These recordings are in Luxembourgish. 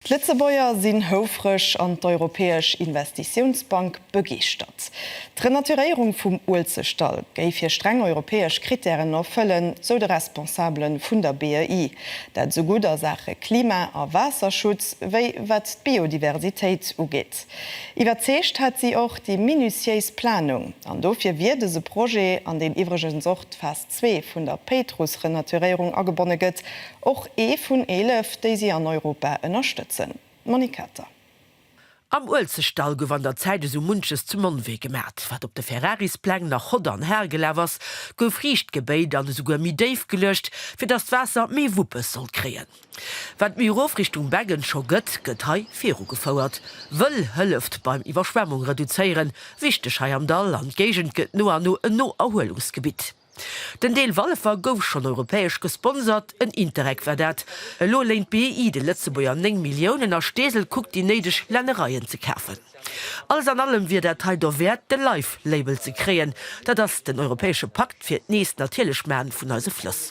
D'Lëtzebuerger sinn houfreg an d'Europäesch Investitiounsbank begeeschtert. D'Renaturéierung vum Uelzechtdall géif hir streng europäesch Krittären erfëllen, sou de Responsabele vun der BEI. Dat esou gutt a Saache Klima a Waasserschutz, wéi wat d'Biodiversitéit ugeet. Iwwerzeegt hätt si och déi minutiéis Planung. An dofir wier dëse Projet, an deem iwwregens och d'Fest. zwee vun der Péitruss-Renaturéierung agebonne gëtt, och ee vun eelef, déi si an Europa ënnerstëtzen. Monique Kater. Am Uelzechtdall gouf an der Zäit esou munches zum Monnwee gemat. Wat op de Ferrarispläng nach hodder an hal gelaf ass, gouf riicht gebéit an esouguer méi déif geluecht, fir datt d'Waasser méi Wuppes sollt kréien. Wat méi erof Richtung Beggen scho gëtt, gëtt hei viru gefouert. Wëll hëlleft beim Iwwerschwemmung reduzéieren, wichteg hei am Dall, an d'Géigend gëtt no an no en No-Erhuelungsgebitt. Den Deel Walfer gouf schonn europäesch gesponsert, en Interreg war dat. Elo léint BEI de Lëtzebuerger 9 Milliounen a Steesel kuckt déi néideg Lännereien ze kafen. Alles an allem wier dat hei derwäert de Life-Label ze kréien, dat ass den europäesche Pakt fir d'nees natierlech Maachen vun eise Flëss.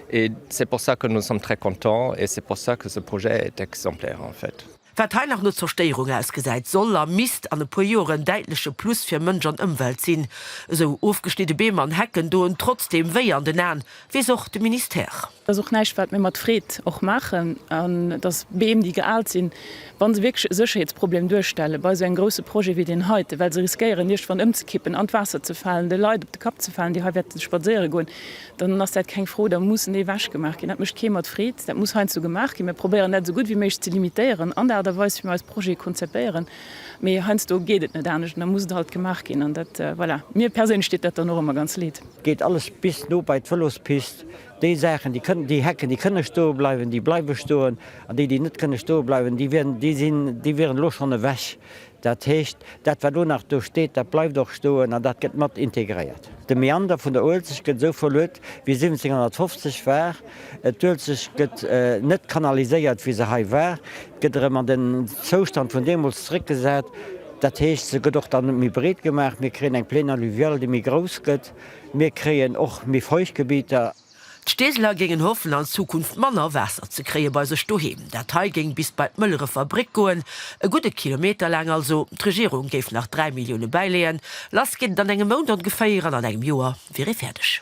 Et c'est pour ça que nous sommes très contents et c'est pour ça que ce projet est exemplaire en fait. Wat hei nach no Zerstéierung ausgesäit, soll a misst an e puer Joer en däitleche Plus fir Mënsch an Ëmwelt sinn. Esou ofgeschnidde Beem an Hecken doen trotzdeem wéi an den Aen, weess och de Ministère. Et ass och näischt, wat mir mat Freed och maachen, an et ass Beem, déi geaalt sinn, wa se wierklech e Sécherheetsproblem duerstellen bei esou engem grousse Projet wéi deen heiten, well se riskéieren iergendwann ëmzekippen, an d'Waasser ze falen, de Leit op de Kapp ze falen, déi hei wäerte spadséiere goen. dann ass dat keng Fro, da mussen déi ewechgemaach ginn. Dat mécht kee mat Freed. Dat muss heiansdo gemaach ginn. Mir probéieren dat esou gutt wéi méiglech ze limitéieren an der Aart a Weis, wéi mir eis Projete konzepéieren. Mee heiansdo geet et net anescht an da muss et halt gemaach ginn. An dat, voilà, mir perséinlech deet dat dann och ëmmer ganz leed. Geet alles bis no bei d'Vëlospist. Déi Saachen, déi kënnen, déi Hecken, déi kënne stoe bleiwen, déi bleiwe stoen. An déi, déi net kënne stoe bleiwen, déi wären, déi sinn, déi wieren elo schonn ewech. Dat heescht, dat wat elo nach do steet, dat bleift och stoen an dat gëtt mat integréiert. De Meander vun der Uelzecht gëtt esou verluet, wéi 1750 war. D'Uelzecht gëtt net kanaliséiert, wéi se hei war. Gëtt erëm an den Zoustand vun deemools zeréckgesat. Dat heescht, se gëtt och da net méi breet gemaach. Mir kréien eng Plaine alluviale, déi méi grouss gëtt. Mir kréien och méi Feuchtgebieter. D'Steeseler géingen hoffen an Zukunft manner Waasser ze kréie bei sech doheem. Dat hei géing bis bei d'Mëllerefer Bréck goen, e gudde Kilometer laang also. D'Regierung géif nach 3 Millioune bäileeën. Lass geet et an engem Mount ongeféier an an engem Joer wier ee fäerdeg.